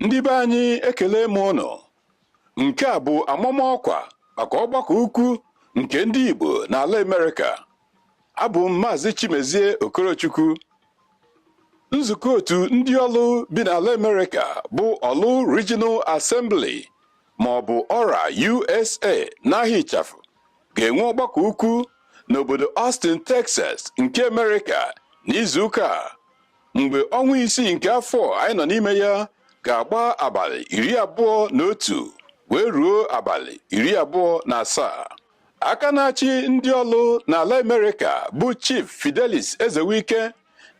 Ndị be anyị ekele m ụnụ. Nke a bụ amamọkwa maka ọgbakọ ukwu nke ndị Igbo n'ala Amerịka. Abụ m Maazị Chimezie Okorochukwu. Nzukọ otu ndị Ọlụ bi n'ala Amerịka bụ Ọlụ Regional Assembly ma ọ bụ ORA USA n'aha ịchafụ ga-enwe ọgbakọ ukwu n'obodo Austin, Texas nke Amerịka n'izuụka a. mgbe ọnwa isii nke afọ anyị nọ n'ime ya ga-agba abalị iri abụọ na otu wee ruo abalị iri abụọ na asaa aka na-achị ndị Ọlụ n'ala Amerịka bụ Chief Fidelis Ezewike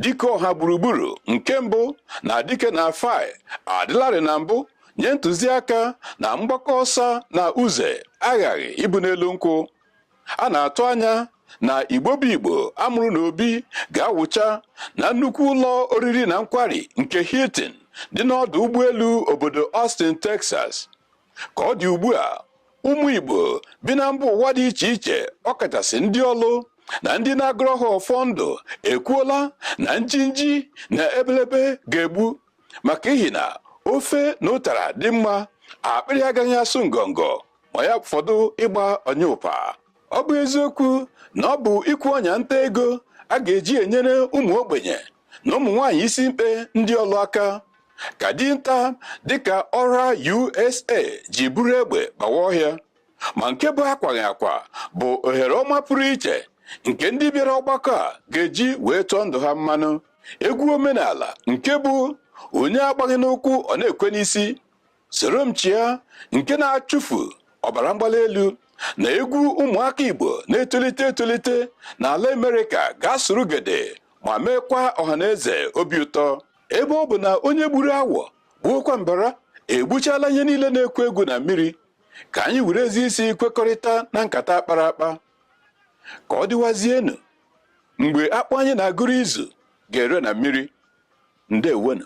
dike ọha gburugburu nke mbụ na Dikenafai adịlarị na mbụ nye ntụziaka na mgbakọ ọsa na uze aghaghị ịbụ n'elu nkwụ a na-atụ anya na Igbo bụ Igbo a mụrụ n'obi ga-awụcha na nnukwu ụlọ oriri na nkwari nke Hilton dị n'ọdụ ụgbọelu obodo Austin Texas ka ọ dị ugbu a ụmụ Igbo bi na mba ụwa dị iche iche ọkachasị ndị Ọlụ na ndị na-agọrọ ha ọfọ ndụ ekwuola na njinji na ebelebe ga-egbu maka ihi na ofe na ụtara dị mma akpịrị agaghị asụ ngọngọ ma ya fọdụ ịgba ọnya ụpa ọ bụ eziokwu na ọ bụ ikwe ọnya nta ego a ga-eji enyere ụmụ ogbenye na ụmụ nwaanyị isi mkpe ndị Ọlụ aka ka dinta dịka ORA USA ji buru egbe bawa ọhịa ma nke bụ akwaghị akwa bụ ohere ọma pụrụ iche nke ndị bịara ọgbakọ a ga-eji wee tụọ ndụ ha mmanụ egwu omenala nke bụ onye agbaghị n'ụkwụ ọ na-ekwe n'isi soro m chịa nke na-achụfu ọbara mgbali elu na egwu ụmụaka Igbo na-etolite etolite n'ala Amerịka ga-asụrụ gede ma meekwa ọhaneze obi ụtọ ebe ọ bụ na onye gburu awọ gbuokwa mbara egbuchala ihe niile na-egwu egwu na mmiri ka anyị were ezi isi kwekọrịta na nkata a kpara akpa ka ọ dịwazienu mgbe akpụ anyị na-agụrụ izu ga-ere na mmiri ndewenu